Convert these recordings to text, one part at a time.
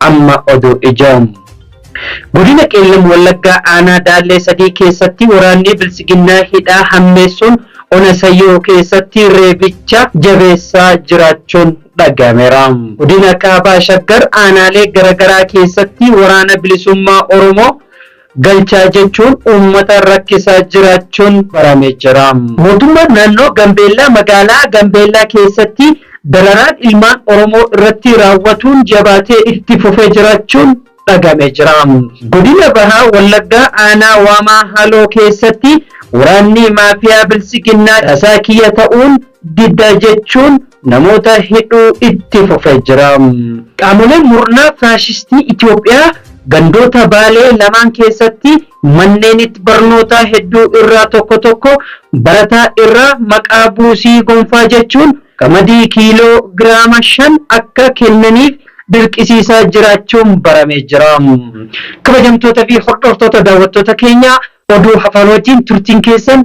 amma oduu ijoo. Godina Qeellam Wallaggaa aanaa Daallee sadii keessatti waraannii Biltsiginnaa hidhaa hammeessuun ona Sayyoo keessatti reebicha jabeessaa jiraachuun dhagahameera. Godina Kaabaa Shaggar aanaalee garagaraa keessatti waraana bilisummaa Oromoo galchaa jechuun uummata rakkisaa jiraachuun barame jira. Mootummaan naannoo Gambeellaa magaalaa Gambeellaa keessatti dararaan ilmaan Oromoo irratti raawwatuun jabaatee itti fufee jiraachuun dhagame jira. Godina Baha Wallaggaa aanaa Waamaa Haloo keessatti waraanni maafiyaa Biltsiginnaa tasaa kiyya ta'uun diddaa jechuun namoota hidhuu itti fufee jira. Qaamoleen murnaa faashistii Itoophiyaa gandoota Baalee lamaan keessatti manneenit barnootaa hedduu irraa tokko tokko barataa irraa maqaa buusii gonfaa jechuun qamadii kiiloo giraama 5 akka kennaniif dirqisiisaa jiraachuun baramee jira. Kabajamtoota fi hordoftoota daawwattoota keenyaa oduu hafaanootiin turtiin keessan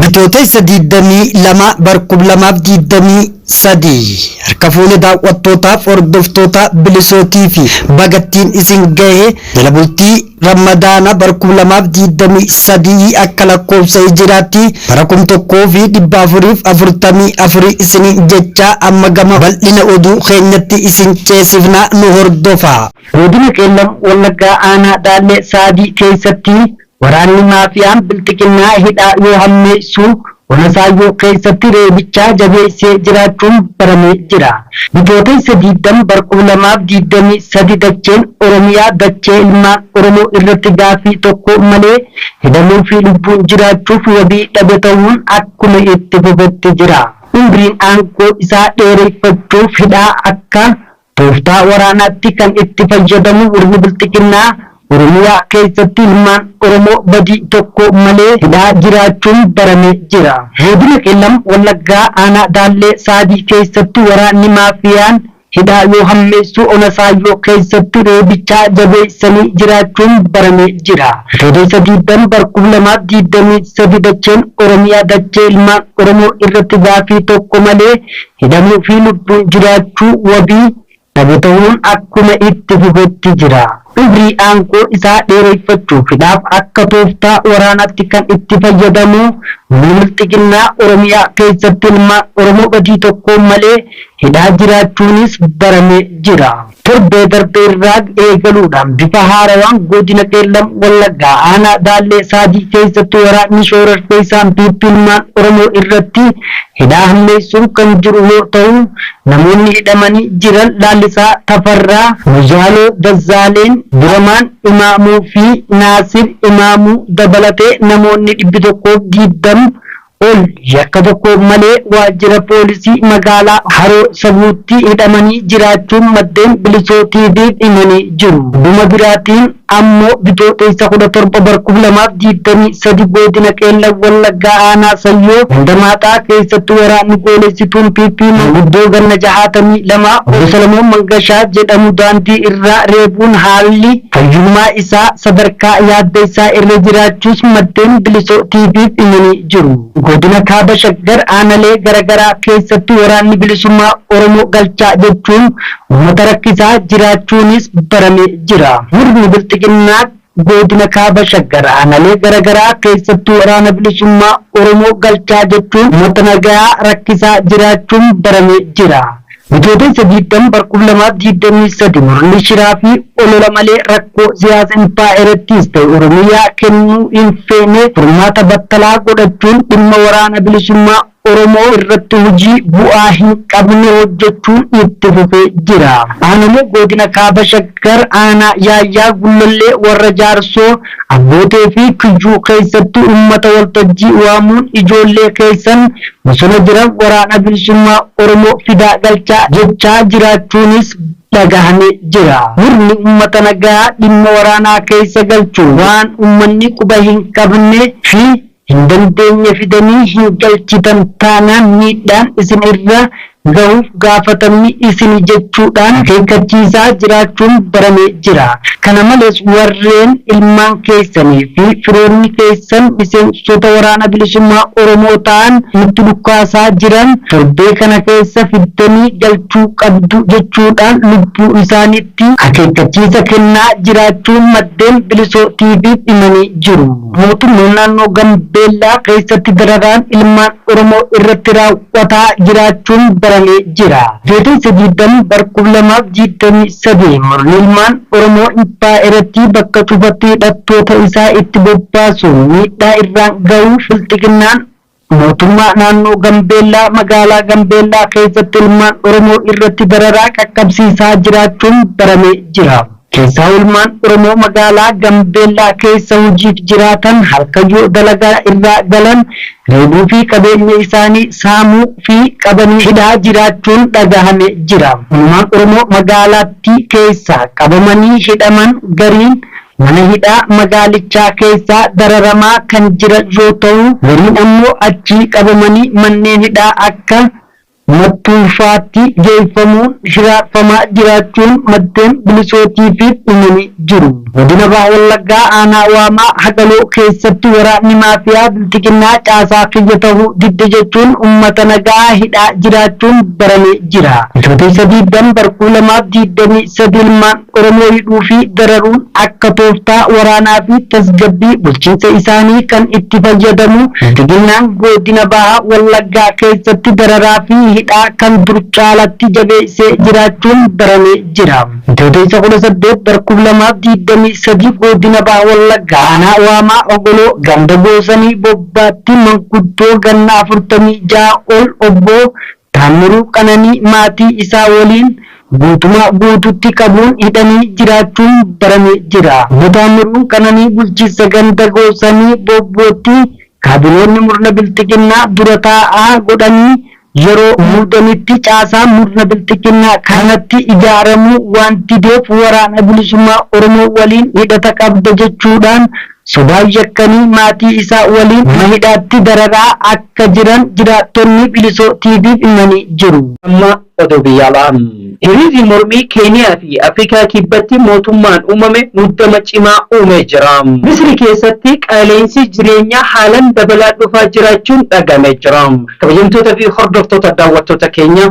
Bitootessa 22 bara 2023 harka fuune daawwattootaaf hordoftoota bilisootii fi bagattiin isin gahe jala bultii ramadaana bara 2023 akka lakkoofsa hijiraatti bara 1444 isin jechaa amma gama bal'ina oduu keenyatti isin ceesifna nu hordofaa. Godina Qeellam Wallaggaa Aanaa Daallee Saadii keessatti waraanni maafiyaan Bilxiginnaa hidhaa yoo hammeessu, Ona Saayyoo keessatti reebichaa jabeessee jiraachuun baramee jira. Bitootessa 20 bara 2023 dacheen Oromiyaa dachee ilmaan Oromoo irratti gaaffii tokko malee hidhamuu fi lubbuun jiraachuuf wabii dhabe tahuun akkuma itti fufetti jira. Umriin aangoo isaa dheereffachuuf hidhaa akka Tooftaa waraanaatti kan itti fayyadamu murni Bilxiginnaa Oromiyaa keessatti ilmaan Oromoo badii tokko malee hidhaa jiraachuun baramee jira. Godina Qeellam Wallaggaa aanaa Daallee Saabii keessatti waraanni maafiyaan hidhaa yoo hammeessu ona Saayyoo keessatti reebichaa jabeessanii jiraachuun baramee jira. Bitootessa 20 bar 2023 dacheen Oromiyaa dachee ilmaan Oromoo irratti gaafii tokko malee Hidhamuu fi lubbuun jiraachuu wabii dhabu tahuun akkuma itti fufetti jira. Umrii aangoo isaa dheereyfachuufidhaaf akka tooftaa waraanaatti kan itti fayyadamu humni bilxiginnaa Oromiyaa keessatti ilmaan Oromoo badii tokkoon malee hidhaa jiraachuunis baramee jira. Torbee darbee irraa eegaluudhaan bifa haarawaan Godina Qeellam Wallaggaa Aanaa Baallee Saajii keessatti waraanni shoorarkeessaan PP ilmaan Oromoo irratti hidhaa hammeessuun kan jiru yoo ta'u, namoonni hidhamanii jiran Laallisaa Tafarraa, Moyyaaloo Dazzaaleen, Diramaan Imaamuu fi Naasir Imaamuu dabalatee namoonni 120 ol yakka tokko malee waajjira poolisii magaalaa Haroo Sabuutti hidhamanii jiraachuun maddeen Bilisoo TV'f himanii jiru. Gama biraatiin ammoo Bitooteessa 17 bara 2023 Goodina Qeellam Wallaggaa Aanaa Sayyoo ganda Maaxaa keessatti waraanni goolessituun PP manguddoo ganna 62 Obbo Salamoon Mangashaa jedhamu daandii irraa reebuun haalli Fayyummaa isaa sadarkaa yaadda isaa irra jiraachuus maddeen Bilisoo TV'f himanii jiru. Godina Kaaba Shaggar aanalee garagaraa keessatti Waraanni Bilisummaa Oromoo galchaa jechuun uummata rakkisaa jiraachuunis baramee jira. Murni Bilxiginnaa Godina Kaaba Shaggar aanalee garagaraa keessatti Waraana Bilisummaa Oromoo galchaa jechuun uummata nagayaa rakkisaa jiraachuun baramee jira. Bitootessa 20 bar 2023 murni shiraa fi olola malee rakkoo siyaasa impaayerattiis ta'e Oromiyaa kennuu hin feene furmaata battalaa godhachuun dhimma Waraana Bilisummaa Oromoo irratti hojii bu'aa hin qabne hojjechuun itti fufee jira. Aanolee Goodina Kaaba Shaggar Aanaa Yaayyaa Gullallee Warra Jaarsoo, Abbootee fi Kuyyuu keessatti uummata waltajjii waamuun ijoollee keessan bosona jiran Waraana Bilisummaa Oromoo fidaa galchaa jechaa jiraachuunis dhagahame jira. Murni uummata nagaa dhimma waraanaa keessa galchuun waan uummanni quba hin qabne fi hin dandeenye fidanii hin galchitan taanaan miidhaan isin irra gahuuf gaafatamni isini jechuudhaan akeekkachiisaa jiraachuun barame jira. Kana malees warreen ilmaan keessanii fi firoonni keessan miseensota Waraana Bilisummaa Oromoo ta'an nutti dhukaasaa jiran torbee kana keessa fiddanii galchuu qabdu jechuudhaan lubbuu isaaniitti akeekkachiisa kennaa jiraachuu maddeen Bilisoo TV'f himanii jiru. Mootummaan naannoo Gambeellaa keessatti dararaan ilmaan Oromoo irratti raawwataa jiraachuun baramee jira. Bitootessa 20 bar 2023 murni ilmaan Oromoo impaayerattii bakka cufatti hidhattoota isaa itti bobbaasuun miidhaa irraan gahuu bilxiginnaan Mootummaa Naannoo Gambeellaa Magaalaa Gambeellaa keessatti ilmaan Oromoo irratti dararaa qaqqabsiisaa jiraachuun baramee jira. Keessaa ilmaan Oromoo magaalaa Gambeellaa keessa hojiif jiraatan halkan yoo dalagaa irraa galan reebuu fi qabeenya isaanii saamuu fi qabanii hidhaa jiraachuun dhagahame jira. Ilmaan Oromoo magaalaattii keessaa qabamanii hidhaman gariin Mana hidhaa magaalichaa keessa dararamaa kan jiran yoo ta'u, gariin ammoo achii qabamanii manneen hidhaa akka Mattuu faatti geeffamuun hiraarfamaa jiraachuun maddeen Bilisoo TV'f himanii jiru. Godina Baha Wallaggaa aanaa Waamaa Hagaloo keessatti waraanni maafiyaa Bilxiginnaa caasaa kiyya ta'uu didde jechuun uummata nagaa hidhaa jiraachuun baramee jira. Bitootessa 20 bar 2023 ilmaan. Oromoo hidhuu fi dararuun akka tooftaa waraanaa fi tasgabbii bulchiinsa isaanii kan itti fayyadamu Bilxiginnaan Goodina Baha Wallaggaa keessatti dararaa fi hidhaa kan dur caalatti jabeessee jiraachuun baramee jira. Bitootessa 18 bara 2023 Goodina Baha Wallaggaa Aanaa Waamaa Ogoloo Ganda Goosanii Bobbaatti manguddoo ganna 46 ol Obbo Taammiruu Qananii maatii isaa waliin guutumaa guutuutti qabuun hidhanii jiraachuun barame jira. Obbo Taammiruun Qananii bulchiinsa ganda Goosanii Boobbootti kaabinoonni murna bilxiginnaa dura taa'aa godhanii yeroo muudanitti caasaan murna bilxiginnaa kanatti ijaaramuu waan dideef waraana bilisummaa Oromoo waliin hidhata qabda jechuudhaan Sodaan yakkanii maatii isaa waliin mana hidhaatti dararaa akka jiran jiraattonni Bilisoo TV'f himanii jiru. Amma oduu biyya alaa. Hiriirri mormii Keeniyaa fi Afrikaa Kibbatti mootummaan uumame muddama cimaa uumee jira. Misri keessatti qaala'insi jireenyaa haalan dabalaa dhufaa jiraachuun dhaga'amee jira. Kabajamtoota fi hordoftoota daawwattoota keenyaa